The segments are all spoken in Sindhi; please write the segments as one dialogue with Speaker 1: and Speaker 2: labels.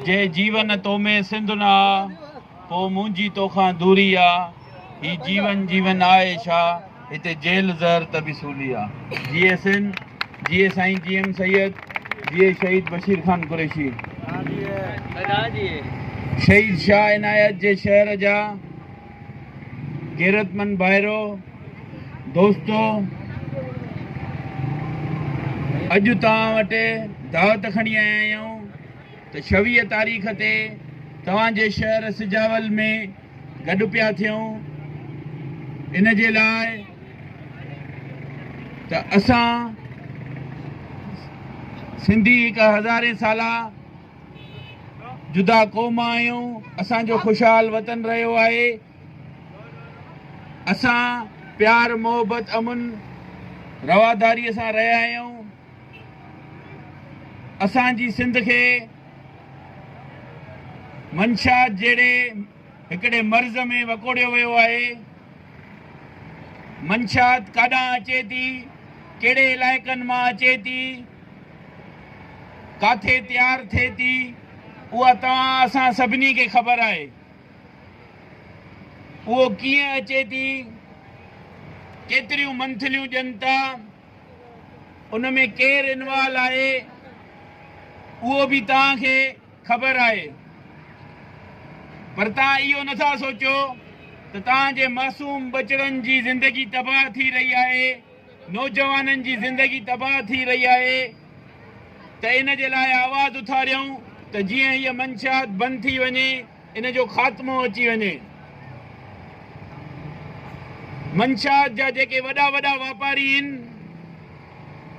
Speaker 1: جي جيون تو ۾ سنڌ نه آ پو منهنجي توکان دوري آ هي جيون جيون آء ڇا هتي جيل زهر ته به سولي آ جي ايس اين جي اي سائين جي ايم سيد جي اي شهيد بشير خان قريشي شهيد شاهه عنايت جي شهر جا غيرتمند ڀائرو دوستو اڄ توهان وٽ دعوت کڻي آيا آهيون ته شويهه تاريخ تي توهان جي شهر سجاول ۾ گڏ پيا ٿيون ان جي لاء ته اسان سنڌي هڪ هزارين سالا جدا قوم آهيون، اسان جو خوشحال وطن رهيو آهي، اسان پيار محبت امن رواداري سان رهيا آهيون، اسان جي سنڌ کي منشيات جهڙي هڪڙي مرض ۾ وڪوڙيو ويو آهي، منشيات ڪاڏانهن اچي ٿي، ڪهڙي علائقن مان اچي ٿي. ڪاٿي تيار ٿئي ٿي، اها توهان اسان سڀني کي خبر آهي. اهو ڪيئن اچي ٿي، ڪيتريون منٿليون ڏين ٿا، ان ۾ ڪير انوال آهي، اهو به توهان کي خبر آهي. پر توهان اهو نٿا سوچيو ته توهان جي معصوم ٻچڙن جي زندگي تباهه ٿي رهي آهي. نوجوانن جي زندگي تباهه ٿي رهي آهي ته ان جي لاء آواز اٿاريون ته جيئن هيء منشيات بند ٿي وڃي ان جو خاتمو اچي وڃي. منشيات جا جيڪي وڏا وڏا واپاري هن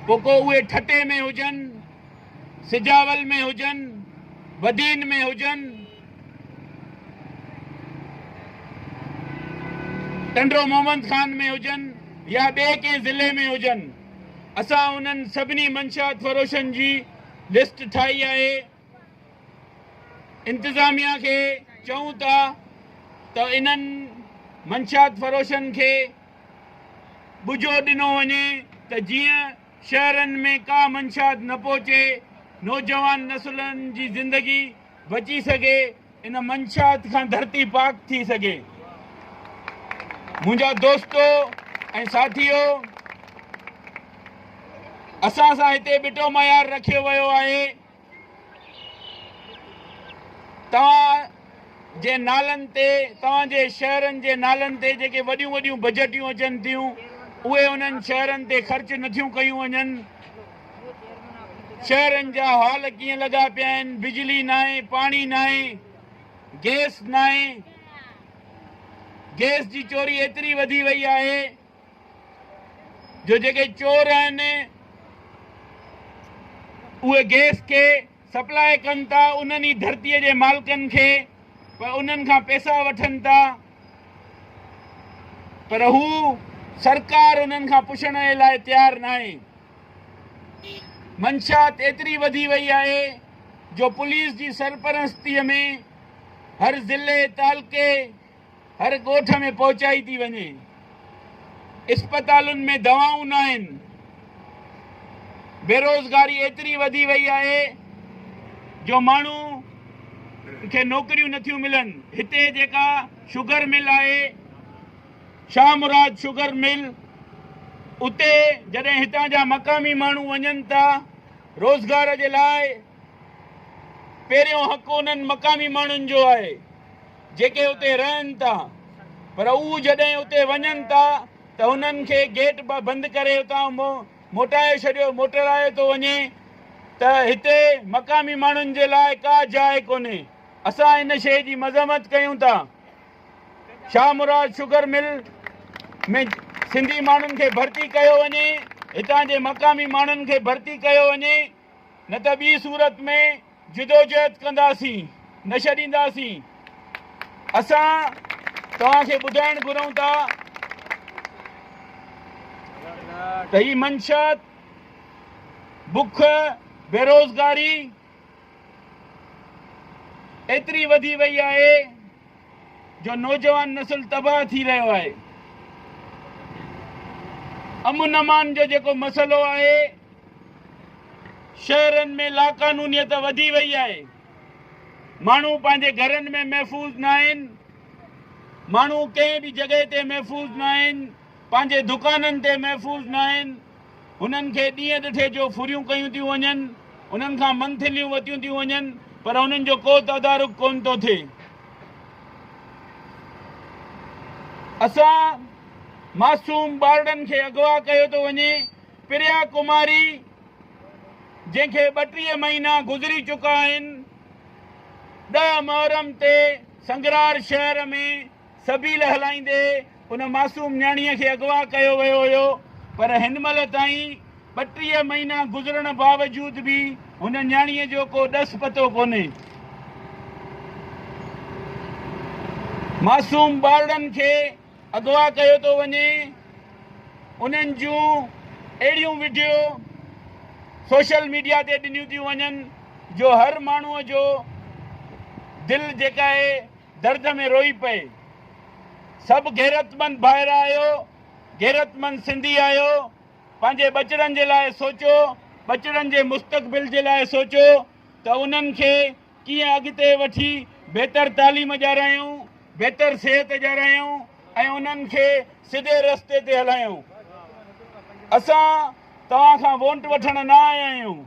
Speaker 1: پوء ڪو اهي ٺٽي ۾ هجن، سجاول ۾ هجن، بدين ۾ هجن، ٽنڊو محمد خان ۾ هجن يا ٻئي ڪنهن ضلعي ۾ هجن اسان انهن سڀني منشيات فروشن جي لسٽ ٺاهي آهي انتظاميا کي چئون ٿا ته انهن منشيات فروشن کي ٻجو ڏنو وڃي ته جيئن شهرن ۾ ڪا منشيات نه پهچي نوجوان نسلن جي زندگي بچي سگهي ان منشات کان ڌرتي پاڪ ٿي سگهي منهنجا دوستو ۽ ساٿيو اسان سان هتي ٻٽو معيار رکيو ويو آهي توهان جي نالن تي توهان جي شهرن جي نالن تي جيڪي وڏيون وڏيون بجيٽيون اچن ٿيون اهي انهن شهرن تي خرچ نٿيون ڪيون وڃن شهرن جا حال ڪيئن لڳا پيا آهن بجلي ناهي پاڻي ناهي گيس ناهي گيس جي چوري ايتري وڌي وئي آهي جو جيڪي چور آهن اهي گيس کي سپلاء ڪن ٿا انهن ئي ڌرتيء جي مالڪن کي پر انهن کان پيسا وٺن ٿا پر هو سرڪار انهن کان پڇڻ جي لاء تيار ناهي منشيات ايتري وڌي وئي آهي جو پوليس جي سرپرستيء ۾ هر ضلعي، تعلقي، هر ڳوٺ ۾ پهچائي ٿي وڃي. اسپتالن ۾ دوائون ناهن. بيروزگاري ايتري وڌي وئي آهي جو ماڻهو کي نوڪريون نٿيون ملن. هتي جيڪا شگر مل آهي. شاهه مراد شگر مل، اتي جڏهن هتان جا مقامي ماڻهو وڃن ٿا روزگار جي لاء، پهريون حق انهن مقامي ماڻهن جو آهي، جيڪي اتي رهن ٿا، پر هو جڏهن اتي وڃن ٿا ته هنن کي گيٽ بند ڪري اتان موٽائي ڇڏيو موٽرايو ٿو وڃي ته هتي مقامي ماڻهن جي لاء ڪا جاء ڪونهي، اسان ان شيء جي مذمت ڪيون ٿا. شاهه مراد شگر مل ۾ سنڌي ماڻهن کي ڀرتي ڪيو وڃي هتان جي مقامي ماڻهن کي ڀرتي ڪيو وڃي نه ته ٻي صورت ۾ جدوجهد ڪنداسين نه ڇڏينداسين اسان توهان کي ٻڌائڻ گهرون ٿا ته هي منشات بک بيروزگاري ايتري وڌي وئي آهي جو نوجوان نسل تباهه ٿي رهيو آهي. امن امان جو جيڪو مسئلو آهي، شهرن ۾ لاقانونيت وڌي وئي آهي، ماڻهو پنهنجي گهرن ۾ محفوظ ناهن، ماڻهو ڪنهن به جڳهه تي محفوظ ناهن، پنهنجي دڪانن تي محفوظ ناهن، هنن کي ڏينهن ڏٺي جو ڦريون ڪيون ٿيون وڃن، انهن کان منٿليون وتيون ٿيون وڃن، پر انهن جو ڪو تدارڪ ڪونه ٿو ٿئي. اسان معصوم ٻارڙن کي اغوا ڪيو ٿو وڃي، پريا ڪماري جنهن کي ٻٽيهه مهينا گذري چڪا آهن، ڏهه محرم تي سنگرار شهر ۾ سبيل هلائيندي ان معصوم نياڻيء کي اغوا ڪيو ويو هيو پر هن مهل تائين ٻٽيهه مهينا گذرڻ باوجود به هن نياڻيء جو ڪو ڏس پتو ڪونهي. معصوم ٻارڙن کي اغوا ڪيو ٿو وڃي انهن جون اهڙيون وڊيو سوشل ميڊيا تي ڏنيون ٿيون وڃن جو هر ماڻهوء جو دل جيڪا آهي درد ۾ روئي پئي. سڀ غيرتمند ڀائر آهيو، غيرتمند سنڌي آهيو، پنهنجي ٻچڙن جي لاء سوچو، ٻچڙن جي مستقبل جي لاء سوچو ته انهن کي ڪيئن اڳتي وٺي بهتر تعليم ڏيارائيون، بهتر صحت ڏيارائيون ۽ انهن کي سڌي رستي تي هلايون. اسان توهان کان وونٽ وٺڻ نه آيا آهيون،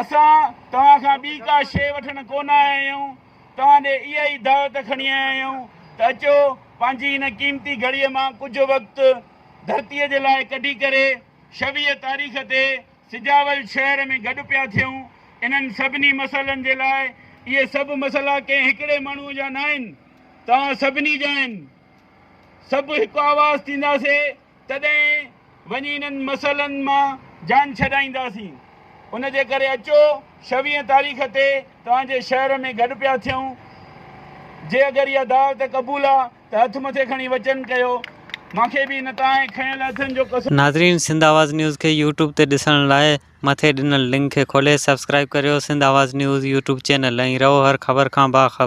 Speaker 1: اسان توهان کان ٻي ڪا شيء وٺڻ ڪونه آيا آهيون، توهان ڏي اها ئي دعوت کڻي آيا آهيون ته اچو پنهنجي هن قيمتي گهڙيء مان ڪجهه وقت ڌرتيء جي لاء ڪڍي ڪري شويء تاريخ تي سجاول شهر ۾ گڏ پيا ٿيون. انهن سڀني مسئلن جي لاء اهي سڀ مسئلا ڪنهن هڪڙي ماڻهوء جا ناهن، توهان سڀني جا آهن. سڀ هڪ آواز ٿينداسين. تڏهن وڃي انهن مسئلن مان جان ڇڏائينداسين. ان جي ڪري اچو شويهه تاريخ تي توهان جي شهر ۾ گڏ پيا ٿيون. جي اگر اها دعوت قبول آ ته هٿ مٿي کڻي وچن ڪيو. مان کي به هن تانهين کنيل هٿن جو قسم. ناظرين سنڌ آواز
Speaker 2: نيوز کي يوٽيوب تي ڏسڻ لاء مٿي ڏنل لنڪ کي کولي سبسڪرائيب ڪريو Sindh Awaz news YouTube channel ۽ رهو هر خبر کان باخبر.